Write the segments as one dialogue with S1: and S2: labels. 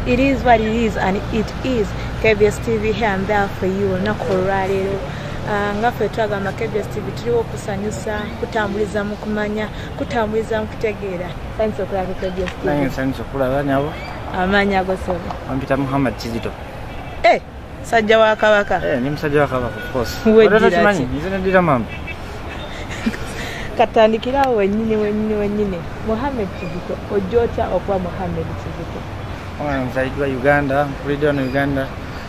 S1: It is what it is and it is KBS TV here and there for you olunaku olwaleero ah, nga ffe twagamba KBS TV tuliwo okusanyusa kutambuliza mu kumanya kutambuliza mu kutegeera sanyusa okulaba KBS TV sanyusa okulaba nyabo
S2: amaanyi ago
S1: sobo ampita Muhammad
S2: Kizito eh
S1: musajja wa kabaka eh, ni musajja wa kabaka of
S2: course wejira kimanyi nze
S1: ne dira
S2: mama
S1: katandikira awo wenyini wenyini wenyini muhammed kizito ojja otya okuba muhammed kizito nzaidwa
S2: uganda nkulidde wano uganda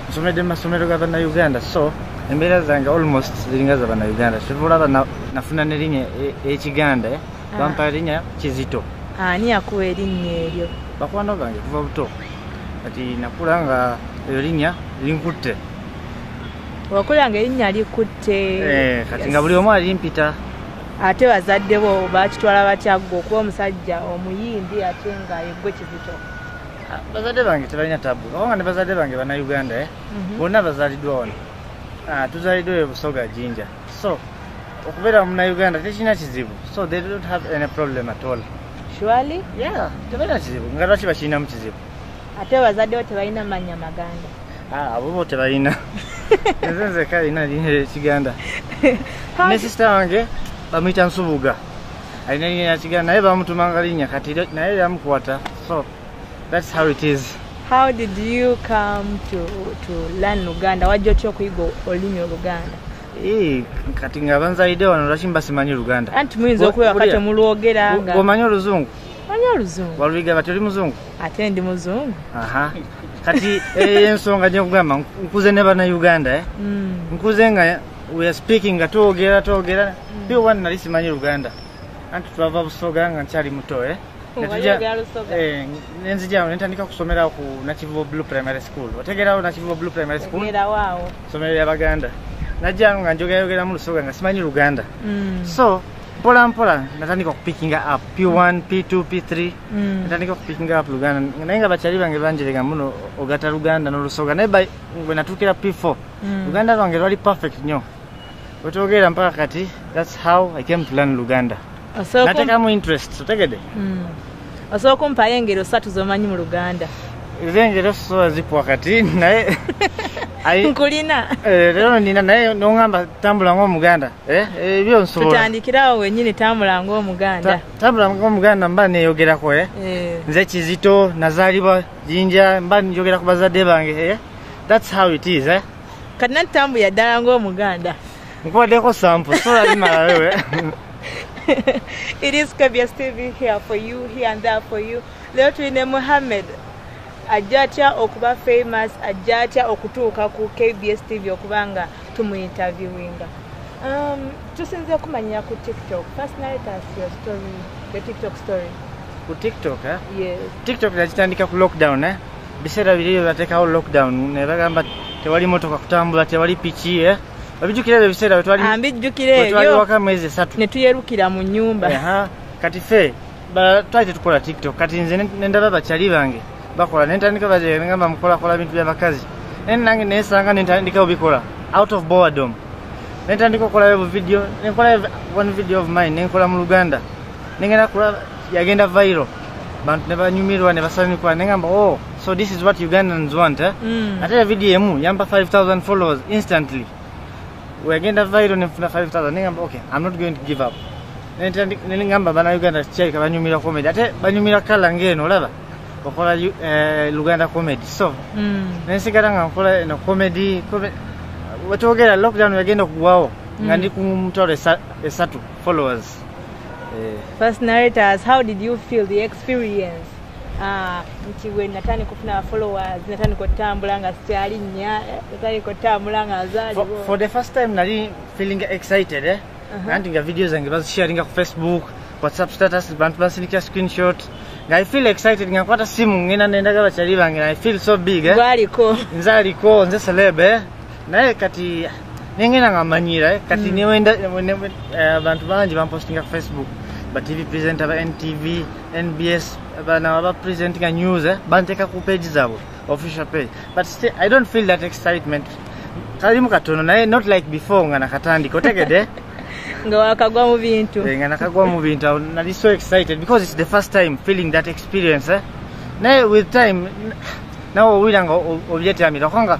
S2: nsomedde mu masomero ga banna uganda so embeera zange almost ziringa za banna uganda kivulaba nafuna nerinya ekiganda e, e, ah. bampa erinya kizito ani yakuwa
S1: erinnya eryo bakwano bange kuva
S2: buto kati nakula nga eyo linya linkutte
S1: wakula nga erinnya likutte eh, kati nga buli omu
S2: alimpita ate
S1: bazadde bo bakitwala batyagga okuba omusajja omuyindi ate nga yegwe kizito ah, bazadde
S2: bange tebalina tabu obanga ne bazadde bange banauganda eh? mhm. bonna bazaliddwa wano ah, tuzaliddwa ebusoga jinja so okubeera munauganda tekirina kizibu so they don't have any problem at all surely
S1: yeah tebalina
S2: kizibu nga lwaki bakirinamu kizibu ate bazaddewo
S1: tebalina manya maganda ah, abo bo tebalina
S2: nze nzeka alina lina ekiganda ne sisita wange bamuyita nsubuga alina linya yakiganda naye bamutumanga linya kati naye yamukwata so That's how it is. How did you
S1: come to, to learn Luganda? Wajja otya okuyiga olulimi Oluganda? Eh,
S2: kati nga banzalidde wano lwaki mba simanyi Luganda? Anti muyinza okubeera kati
S1: omulwogera nga. Omanyi oluzungu?
S2: Manyi oluzungu.
S1: Waluyiga kati oli muzungu?
S2: Ate ndi muzungu.
S1: Aha. Kati
S2: eh, ensonga gye nkugamba nkuze ne bana Uganda eh. Mm. Nkuze nga we are speaking nga twogera twogera. Mm. Biwa nali simanyi Luganda. Anti twava busoga nga nkyali muto eh. Eh, nenzija nentandika kusomera ku nakivubo blue primary school otegerawo nakivubo blue primary school somero
S1: lya baganda
S2: najjano nga njogayogera mu lusoga nga simanyi luganda mm. so mpola mpola natandika okupikinga up p1 p2 p3 mm. natandika okupikinga up luganda naye nga bakyali bange banjerega muno ogata luganda nolusoga naye bwe natuukira p4 mm. luganda lwange lwali perfect nyo wetwogeera mpaka kati thats how i came to learn luganda natekamu interest otegede hmm. osobola
S1: okumpayo engero satu zomanyi mu luganda ezengero
S2: sosobola zikuwa kati naye
S1: nkulina eh, lero
S2: nina naye nongamba tambula ngaomuganda eh, eh, ebyo nsobolatutandikirawo wenyini
S1: tambula ngaomuganda tambula ngaomuganda
S2: mba neyogerako nze kizito nazalibwa jinja mba njogera ku bazadde bange thats how it is kati nati tambuya
S1: ddala ngaomuganda Nkubaddeko
S2: sample, so that imala wewe.
S1: It is Kabia TV here for you, here and there for you. Leo tuine Mohamed. Ajja atya okuba famous, ajja atya okutuuka ku KBS TV okuba nga tumu interviewinga. Um, tusinze kumanya ku TikTok. First night as your story, your TikTok story. Ku TikTok,
S2: eh? Yes. TikTok
S1: yakitandika
S2: ku lockdown, eh? Biseera biri byo batekawo lockdown, ne bagamba tewali motoka kutambula, tewali piki, eh? Abijukira ebyo biseera bwe twali ambijjukira ebyo twali waka
S1: mwezi esatu ne
S2: tuyerukira mu
S1: nnyumba kati fe
S2: twali tetukola tiktok kati nze ne ndaba bakyali bange bakola ne ntandika bagamba mukolakola bintu by'abakazi naye nange nesanga ne ntandika obikola out of boredom ne ntandika okolayo buvidiyo nenkola one video of mine nenkola mu luganda nengenda kulaba yagenda viral bantu ne banyumirwa ne basanyuka ne ngamba oh so this is what ugandans want eh? mm. ate ya video emu yampa 5000 followers instantly weyagenda viral ne nfuna 5000 ne ngamba okay i'm not going to give up ne ngamba bana uganda kyalika banyumira comedy ate banyumira kala ngeno olaba okola eh, luganda comedy so mm. ne nsigala nga nkola eno comedy wetwogera lockdown yagenda okugwawo nga mm. ndi ku mutwalo esatu followers Eh.
S1: First narrators, how did you feel the experience? Ah, nti we natandika okufuna followers natandika otambula nga sikyali nnya eh, natandika otambula nga azaaliwo for the first time
S2: nali feeling excited eh? Uh-huh. nanti nga video zange bazisharinga ku facebook whatsapp status bantu basindikira screenshot nga i feel excited nga nkwata simu ngenda nendaga bakyali bange i feel so big eh? nze
S1: aliko nze
S2: celeb eh? naye kati nengenda nga manyira eh, kati mm. newenda eh, abantu bangi bampostinga ku facebook ba tv presenter ba ntv nbs bana ba presenting a news eh, banteka ku page zabo official page but still i don't feel that excitement kalimu katono naye not like before nga nakatandika otegede nga
S1: wakagwa mu bintu eh, nga nakagwa mu bintu
S2: nali so excited because it's the first time feeling that experience eh? naye with time nawe owulira nga obyetyamira okonga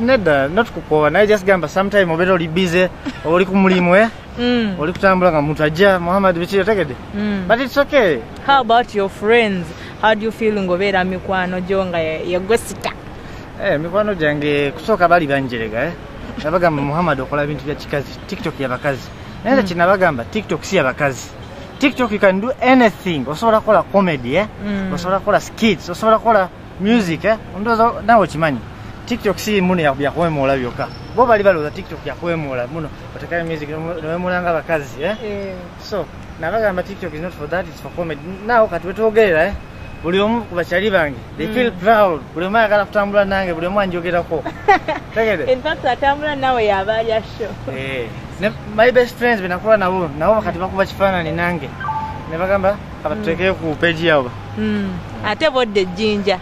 S2: nedda not kukooba naye just gamba sometime obeera oli bize oba oli ku mulimu eh? mm. oli kutambula nga muntu ajja muhammad biki otegedde mm. but its okay how about your
S1: friends how do you feel ngaobeera mikwano gyo nga yegwe sita eh, mikwano
S2: gyange kusooka bali banjerega eh? nabagamba muhammad okola bintu bya kikazi tiktok yabakazi naye mm. kinabagamba tiktok si yabakazi tiktok you can do anything osobola kukola comedy eh? mm. osobola kukola skits osobola kukola music eh? ndoza nawe kimanyi tiktok si muno yakuwemoola byokka bo bali balowooza tiktok yakuwemoola muno otekayo music newemulanga abakazi eh? eh. so nabagamba tiktok is not for that its for comedy nawo kati wetwogerera eh? buli omu ku bakyali bange they mm. feel proud buli omu ayagala kutambula nange buli omu anjogerako tegedetambula
S1: nawe yabalya sho eh. my
S2: best friends benakuba nabo nabo kati bakuba kifaanani nange nebagamba abatuteke ku peji yabo hmm. ate
S1: bodde ejjinja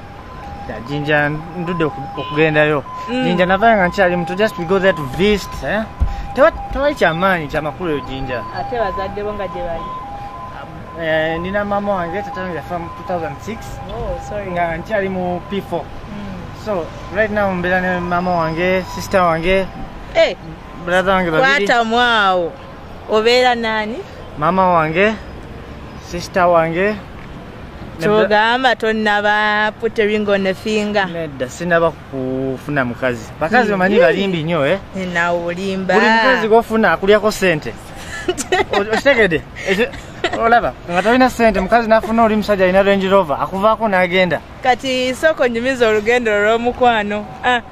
S1: jinja
S2: ndude okugendayo mm. jinja navayo nga nkyali muto just we go there to visit eh? tewali kyamaanyi kyamakulu eyo jinja ate bazadde bo
S1: nga gyebali um,
S2: eh, nina mama wange tatange yafa mu 2006 nga nkyali mu p4 mm. so right now mbeera ne mama wange sister wange eh, brother wange babiri kwatamwawo
S1: obeera naani maama wange
S2: sisita wange
S1: kyogamba tonaba putering on a finger nedda sinaba
S2: kufuna mukazi bakazi bamanyi balimbi nnyo e eh? nawe olimba
S1: buli mukazi gofuna
S2: akulyako sente okitegede olaba nga tolina sente mukazi nafuna oli musajja alina range rover akuvaako n'agenda kati sooka
S1: onyumiza olugendo olw'omukwano ah.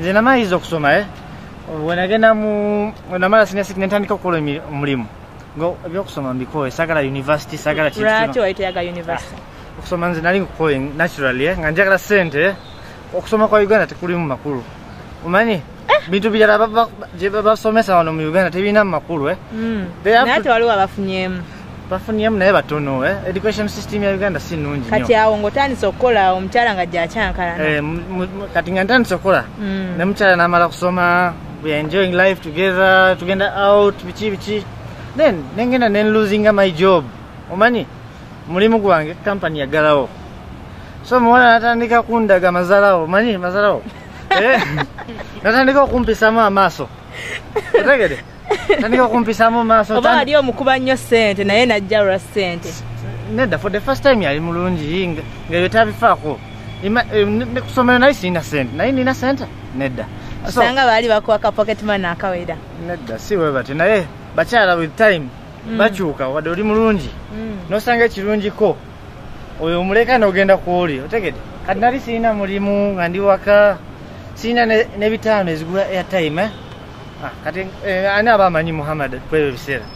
S2: nze namaliriza okusoma eh? wenagenda namala senior six nentandika okukola omulimu ebyokusoma mbikoye sagala university sagala ah,
S1: okusoma nze nali
S2: nkukoye naturally eh? nga njagala sente eh? okusoma kwa uganda tekulimu makulu omanyi bintu birala gyebabasomesa wano mu uganda tebirina mu makulu eh? mm. naye
S1: tewaliwo abafunyemu bafuniyemu
S2: naye batono eh? education system ya uganda si nungi kati awo ngaotandise
S1: okukola omukyala nga gyakyankalana eh, kati nga
S2: ntandise okukola mm. ne mukyala namala kusoma we are enjoying life together tugenda out biki biki then nengenda nenlosinga my job omanyi mulimu gwange kampani yagalawo so muwala natandika kundaga mazalawo omanyi mazalawo eh? natandika okumpisamu amaaso otegede tandika okumpisamu maaso oba wali omukuba nnyo
S1: sente naye najja lwa sente nedda for the
S2: first time yali mulungi ngaebyo tabifaako eh, nekusomero naye sirina sente naye nina sente nedda osanga baali
S1: bakuwa ka pocket man akawera nedda si bwe
S2: batyo naye bakyala with time mm. bakyuka wadde oli mulungi mm. nosanga ekirungiko oyo omuleka nogenda kwoli otegede kati nali sirina mulimu nga ndi waka sirina nebitaano ezigula airtime eh? Ah, kati eh, ani aba amanyi muhammad kwebyo ebiseera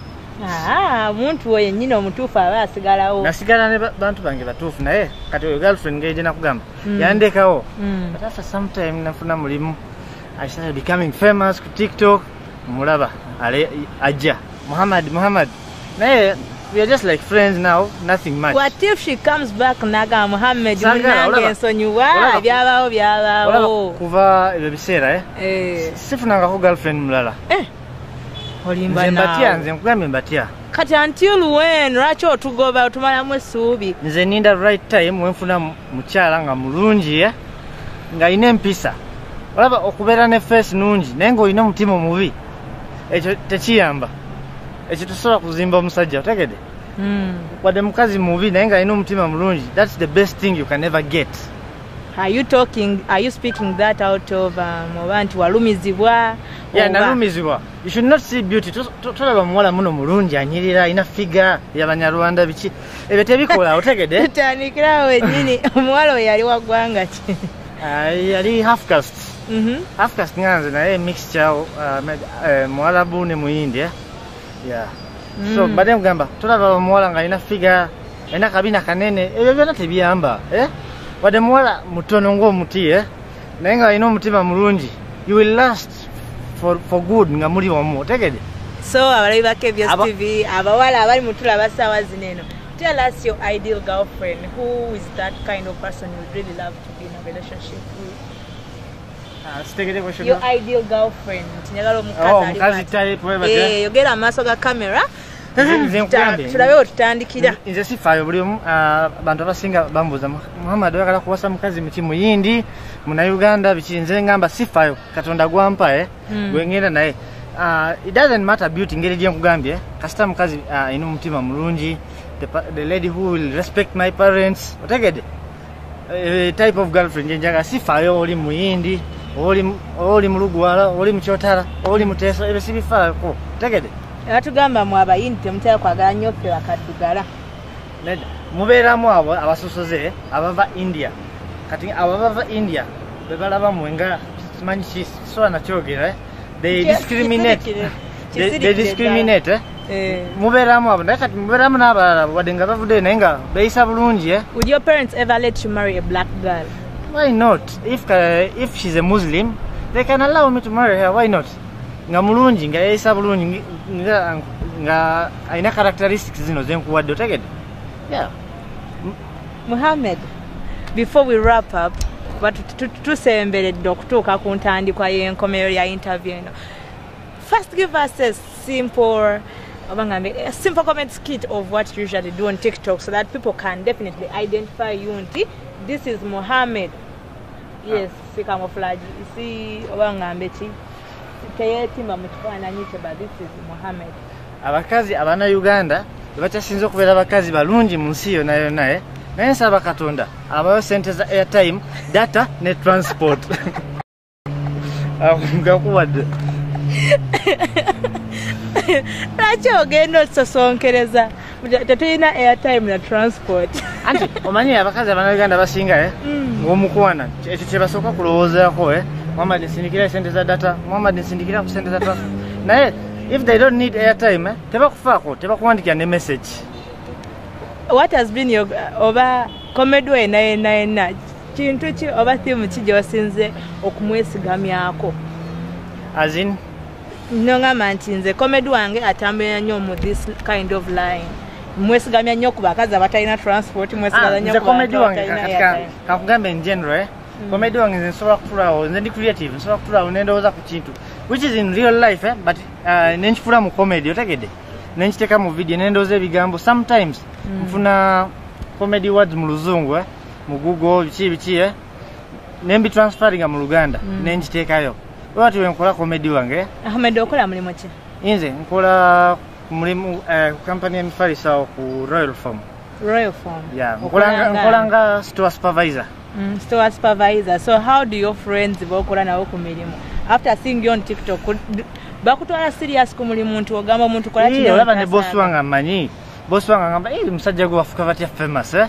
S2: ah,
S1: muntu oyo nyini omutuufu aba asigalawo nasigala ne bantu
S2: bange batuufu naye kati oyo girlfriend nga ejena kugamba mm. yandekawo mm. but after some time nafuna mulimu i started becoming famous ku tiktok mulaba ale ajja muhammad muhammad naye we are just like friends now nothing much what if she comes
S1: back naga muhammed munange ensonyiwa byabaawo byabaawo kuva ebyo
S2: biseera eh? eh. sifunangako girlfriend mulala eh.
S1: olimba mbatya nze
S2: nkugambye mbatya kati until
S1: when lwaki otugoba otumalamu essuubi nze ninda right
S2: time wenfuna mukyala nga mulungi eh? nga alina empisa olaba okubeera ne face nungi naye ngaolina omutima omubi ekyo tekiyamba ekyo tusobola kuzimba omusajja otegede hmm. wadde mukazi mubi naye nga alina omutima mulungi thats the best thing you can ever get are you
S1: talking are you speaking that out of um, oba nti walumizibwa yeah nalumizibwa
S2: you should not see beauty tolaba muwala muno mulungi anyirira alina figa yabanyarwanda biki ebyo tebikola otegede tutandikirawo wenyini
S1: omuwala oyo yali wagwanga ki yali
S2: half cast Mhm. Afu kasingana nze naye mixture uh, uh, muwalabu ne muyindi eh? yeah. mm. so mbadde mugamba tulaba omuwala nga alina figa alina kabina kanene ebyo byona tebiyamba eh? wadde muwala mutono ngaomuti eh? naye nga alina omutima mulungi you will last for, for good nga muli omu otegede so abalabi ba
S1: kbs Aba tv abawala abali mutulaba saawa zino eno tell us your ideal girlfriend who is that kind of person you really love to be in a relationship with
S2: yogera amaaso
S1: ga camera tulabe wetutandikira nze sifaayo buli
S2: omu ah, bantu abasinga bambuuza muhammad oyagala kuwasa mukazi muki muyindi munauganda biki nze ngamba sifaayo katonda gwampa eh, hmm. gwengenda naye ah, it doesn't matter beauty ngeri gyenkugambye kasita mukazi ah, ina omutima mulungi the lady who will respect my parents otegede Eh, type of girlfriend njenjaga sifayo oli muyindi oli oli mulugwala oli muchotara oli muteso ebe sibifayo ko tegede atugamba mu
S1: abayindi temutaya kwagala nyo fe bakadugala neda
S2: mubera mu abo abasusoze abava india kati abo abava india bebalaba mwenga simanyi kiswa na chogera eh? they discriminate they, they discriminate eh? Eh. mubeeramu abo naye kati mubeeramu n'abalala wadde nga bavudde naye nga beeyisa bulungi eh? would your parents ever
S1: let you marry a black girl why not
S2: if, uh, if she's a muslim they can allow me to marry her why not nga mulungi nga yeeyisa bulungi nga alina characteristics zino zenkuwadde otegedde yeah.
S1: muhammed before we wrap up tusemberedde okutuuka ku ntandikwa y'enkomero ya interview eno First give us a simple a simple comment skit of what you usually do on TikTok so that people can definitely identify you and this is Mohammed. Yes, ah. see camouflage. You see Obangambe chi. Teyetima mutwana nyiche but this is Mohammed. Abakazi
S2: abana Uganda bakyasinze okubeera abakazi balungi mu nsi yona yona eh? naye nsaba katonda abayo sente za airtime data ne transport akugakuwadde lwaki ogenda otusosonkereza tetulina airtime na transport anti omanyi abakazi abanauganda basinga eh? mm. ngomukwana ekyo kyebasooka kulowoozako eh? muhammad nsindikira esente za data muhammad nsindikira ku sente za data naye if they don't need airtime eh? tebakufaako tebakuwandikira ne message what has been your oba comedy way naye naye naki kintu ki oba thimu ki gyewasinze okumwesigamyako azin nongamba nti nze komedi wange atambulira nnyo mu this kind of line mwesigamya nnyo ku bakazi abatalina transport mwesigamyanyokakugambe ah, ngenre eh? mm. komedi wange nze nsobola kutulawo nze ndi creative nsobola kutulawo nendowooza ku kintu which is in real life eh? but uh, nenkifula mu comedy otegede nenkiteeka mu video nendowooza ebigambo sometimes mm. nfuna comedy words mu luzungu eh? mu google biki biki eh? ne mbitransferinga mu luganda mm. ne nkiteekayo webati wenkola komedi wange ahmed okola mulimu ki inze nkola mulimu eh, kampani ya mifalisawo ku royal form royal form yeah. nkola nga store supervisor mm, store supervisor so how do your friends bokola nawo ku mirimu after seeing you on tiktok bakutwala serious ku mulimu nti ogamba omuntu kola kino olaba ne boss wange amanyi boss wange agamba eh musajja gwe wafuka batya famous eh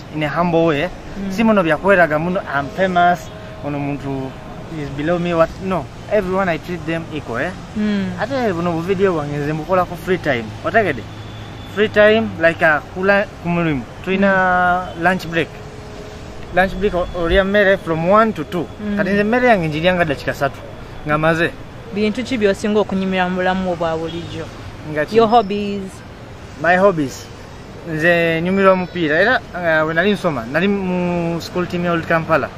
S2: in a humble way mm. si muno byakweraga muno am famous ono muntu is below me what no everyone i treat them equal eh? mm. ate buno buvidiyo bwange nze mbukola ku free time otegede free time like uh, kula ku mulimu tulina mm. lunch break lunch break olya mmere from 1 to 2 mm. kati nze emmere yange njiryanga dakika satu nga maze bintu ki byosinga okunyumira mu bulamu obwa bulijjo your hobbies my hobbies nze nyumirwa omupiira era eh, we nali nsoma nali mu school team ya old kampala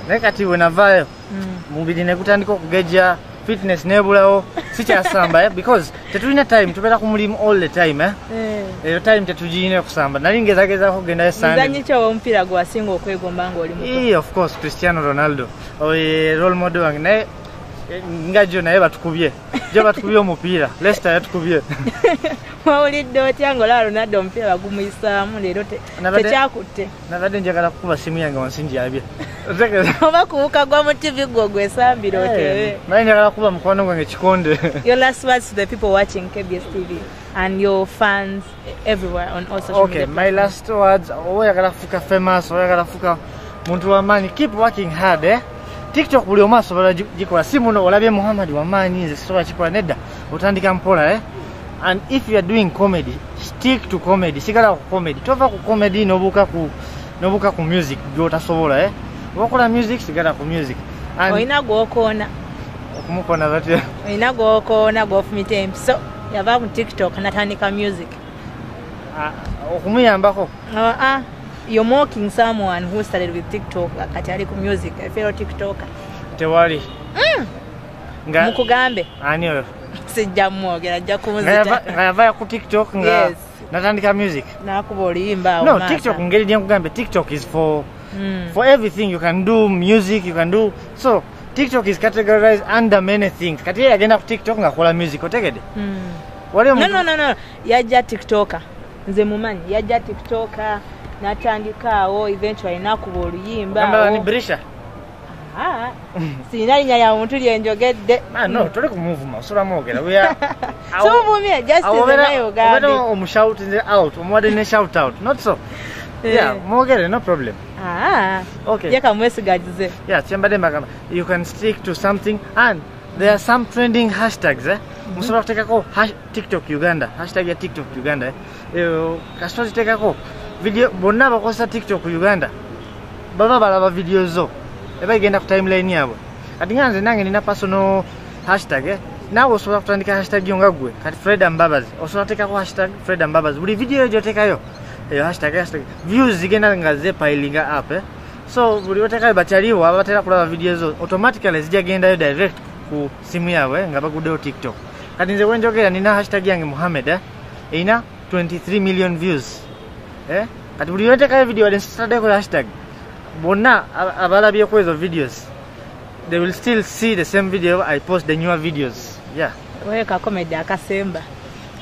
S2: naye kati we navaayo mm. mubiri ne gutandika okugejja fitness nebulawo sikyasamba eh, because tetulina time tubeera ku mulimu all the time eh. eh. eyo time tetugirina okusamba nali ngezagezako okugenda esandanyikyowomupiira
S1: gwasinga okwegomba ngaoli mu of course cristiano
S2: ronaldo oye role model wange naye nga jo naye batukubye gye batukubye omupiira lesita yatukubye wawulidde
S1: otya ngaolaba ronaldo omupiira bagumuyisaamu leero tekyakutte nabadde njagala
S2: kukuba simu yange wansi njabye oba
S1: kuwuka gwa mu tv gwo gwesambira eh, otebe naye njagala kukuba mukwano
S2: gwange kikonde your last words to
S1: the people watching kbs tv and your fans everywhere on all social okay, media. my last words,
S2: oyagala kufuka famous, oyagala kufuka muntu wa maanyi, keep working hard eh. TikTok buli omu asobola gikola, si muno olabye Muhammad wa maanyi nze sisobola kikola nedda, otandika mpola eh. And if you are doing comedy, stick to comedy, sigala ku comedy, tova ku comedy nobuka ku nobuka ku music gyotasobola eh. Wakola music sigala ku music. And oyina
S1: gwokoona. Okumukona
S2: batya? Oyina gwokoona
S1: gwofumita empiso. yava mu tiktok natandika music ah, okumuyambako
S2: ah, ah, yo
S1: moking someone who started with tiktok kati ali ku music efero tiktok tewali
S2: mm.
S1: mukugambe ani oyo
S2: sijja mwogera
S1: ajja kumuzita nga yavaya ku tiktok
S2: nga yes. natandika music nakuba oluyimba
S1: no tiktok ngeri
S2: gyenkugambye tiktok is for mm. for everything you can do music you can do so TikTok is categorized under many things. Kati yeye agenda ku TikTok nga kola music otegede. Mm. Wale no, no
S1: no no yaja TikToker. Nze mumanyi yaja TikToker natandika awo eventually nakuba oluyimba. Kamba ni Brisha. Ah. Sina linya ya muntu lye njogedde. Ah no, tole ku move
S2: ma, sura mogera. We are So move ya
S1: just in the way ogabe. Obera omushout in the
S2: out, omwade ne shout out. Not so. Eh. Yeah, mogera no problem. Ah, okay.
S1: Yeka mwesigajize. Yeah, chembade magama.
S2: You can stick to something and there are some trending hashtags eh. Mm-hmm. Musobola kutekako hash, TikTok Uganda. Hashtag ya TikTok Uganda eh. Eyo kasito zitekako video bonna abakozesa TikTok Uganda. Baba balaba video zo. Eba igenda ku timeline yabo. Kati nga nze nange nina personal hashtag eh. Nawe osobola kutandika hashtag yo nga gwe. Kati Freda Mbabazi. Osobola kutekako hashtag Freda Mbabazi. Buli video yo gyotekayo. eyo hashtag hashtag views zigenda nga zepilinga up eh? so buli batekayo bakyaliwo abatera kulaba video zo automatically zijja gendayo direct ku simu yaabwe eh, nga baguddewo tiktok kati nze wenjogera nina hashtag yange muhammed eh? erina 23 million views eh? kati buli wetekayo video wadde nsitadeko hashtag bonna abalabyeku ezo videos they will still see the same video i post the newer videos yeah weka
S1: comedy akasemba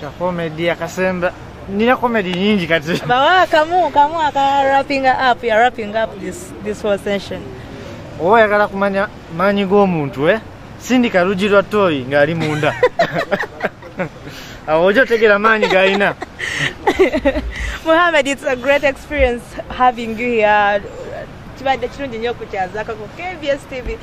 S1: kakomedi akasemba
S2: nina komedi nyingi kati bawa kamu kamu
S1: aka wrapping up ya wrapping up this, this whole session oba oyagala
S2: kumanya maanyi g'omuntu e eh? sindika lugi lwa toyi ng'ali munda awo oja otegera maanyi galina muhamed
S1: its a great experience having you here kibadde kirungi nnyo okukyazakako kbs tv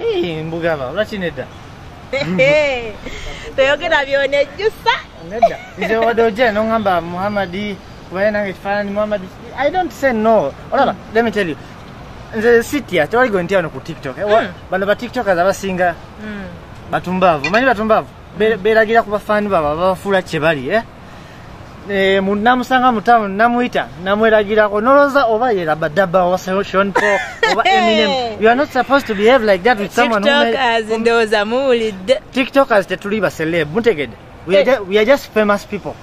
S1: Ii, mbugaba
S2: lwaki nedda
S1: toyogera byona ejjusa nedda
S2: nze wadde ojja noŋamba muhammadi kubaye nange ekifaananyi muhammadi i don't say no olaba mm. let me tell you nze sitya tewali gwe ntya wano ku tiktok eh, mm. bano ba tiktokers abasinga mm. batumbaavu manyi batumbaavu beragira ku bafaani babo ababafuula kye bali eh? Eh, namusanga mutamu namuyita namweragirako nolowooza oba yerabadaba oba sean paul oba eminem you are not supposed to behave like that with someone tiktokers ndowooza
S1: muwulidde tiktokers tetuli
S2: ba celeb mutegedde we, eh. we are just famous people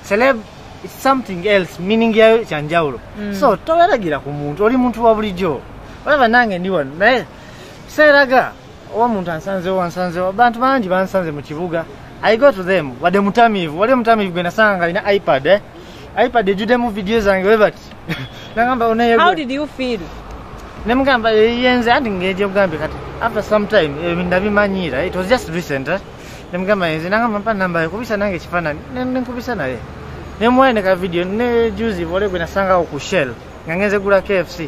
S2: celeb is something else meaning yayo kyanjawulo mm. so toweragira ku muntu oli muntu wa bulijjo olaba nange ndi wano naye seeraga oba omuntu ansanzewo ansanzewo abantu bangi bansanze mu kibuga i go to them wadde mutamiivu wadde mutamiivu gwe nasanga nga alina ipad eh? ipad ejjudemu vidiyo zange webati nagamba onayenemugamba yenze anti ngeeje kugambe kati after some time eh, ndabimanyiira it was just recent eh? nemugamba yenze nagamba mpa namba yekubisa nange ekifaanani nenkubisa naye nemuwaye ne ka vidiyo ne juzi vole gwe nasangawo ku shell nga ngenze gula kfc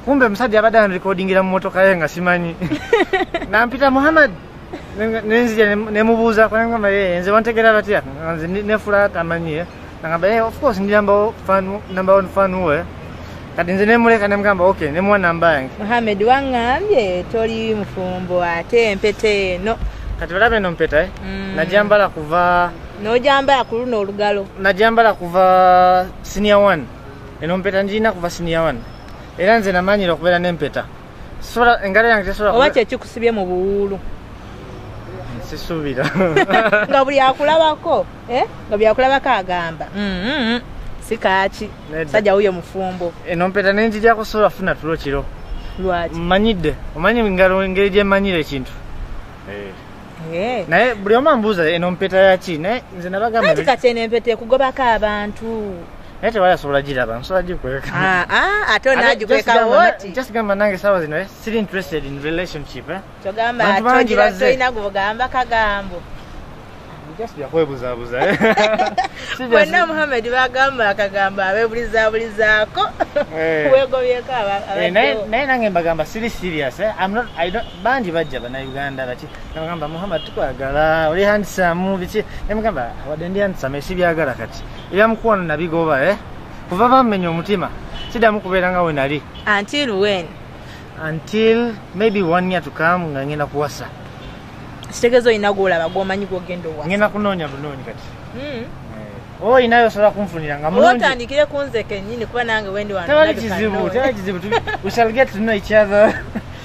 S2: kumbe omusajja yabadde anrekodingira mu motoka ye nga simanyi nampita muhammad nenzija nemubuuzako nengamba ye nze bantegera batya nze nefula tamanyi ye nangamba ye of course ndi number one fan we kati nze nemuleka nemugamba ok nemuwa namba yange muhammad wangambye
S1: toli mufumbo ate empeta eno kati olaba eno mpeta
S2: eh? mm. najambala kuva nojambala ku
S1: luno olugalo najambala kuva
S2: senior one eno mpeta njirina kuva senior one era nze namanyira okubeera n'empeta engalo yange tesobola oba kyekikusibye mu
S1: buwuulu sisuubira
S2: nga buli
S1: akulabako eh? nga buli akulabako agamba mm-hmm. si kaaki sajja wuyo mufumbo eno mpeta nenjija
S2: kusobola funa tulo kiro lwaki mmanyidde
S1: omanyi
S2: ngalo engeri gyemmanyira ekintu eh. Eh. naye buli omu ambuuza eno mpeta yaki naye nze nabagamba kati eno empeta
S1: ekugobako abantu naye tewali asobola
S2: giraba nsobola gikweka ah, ah, ate
S1: onagikweka woti just gamba nange sawa zino
S2: eh, siri interested in relationship eh. kyogamba
S1: tolina gugamba kagambo
S2: yakwebuzabuza eh.
S1: bonna muhammed bagamba akagambo abebulizabulizaako wegobyeko
S2: naye nange mbagamba siri serious bangi bajja banauganda baki nabagamba muhammed tukwagala oli handisamu biki nemugamba wadde ndi handisamu esibyagala kati Ebya mukwano nabigoba eh? Kuva bammenya omutima sidamu kubeera nga we nali. Until when? Until maybe one year to come nga ngenda kuwasa. Sitegeeza
S1: olina gw'olaba gw'omanyi gw'ogenda owasa. Ngenda kunoonya bunoonyi
S2: kati. Mm. Oh, inayo sala kumfunira nga mulungi. Wota andikire kunze
S1: kenyini kuba nange wendi wanu. Tawali kizibu,
S2: tawali kizibu. We shall get to know each other.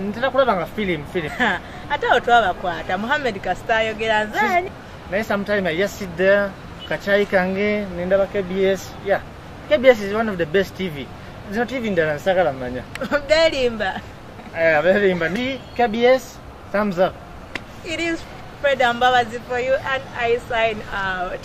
S2: ntera kulaba nga film film ate awo
S1: twabakwata muhammed kasita ayogera nzani naye sometime
S2: ayasidde kacayi kange nendaba kbs ya kbs is one of the best tv zino tv ndala nsagala manya belimba
S1: eh, belimba
S2: ni kbs thumbs up
S1: it is fred ambabazi for you and i
S2: sign
S1: out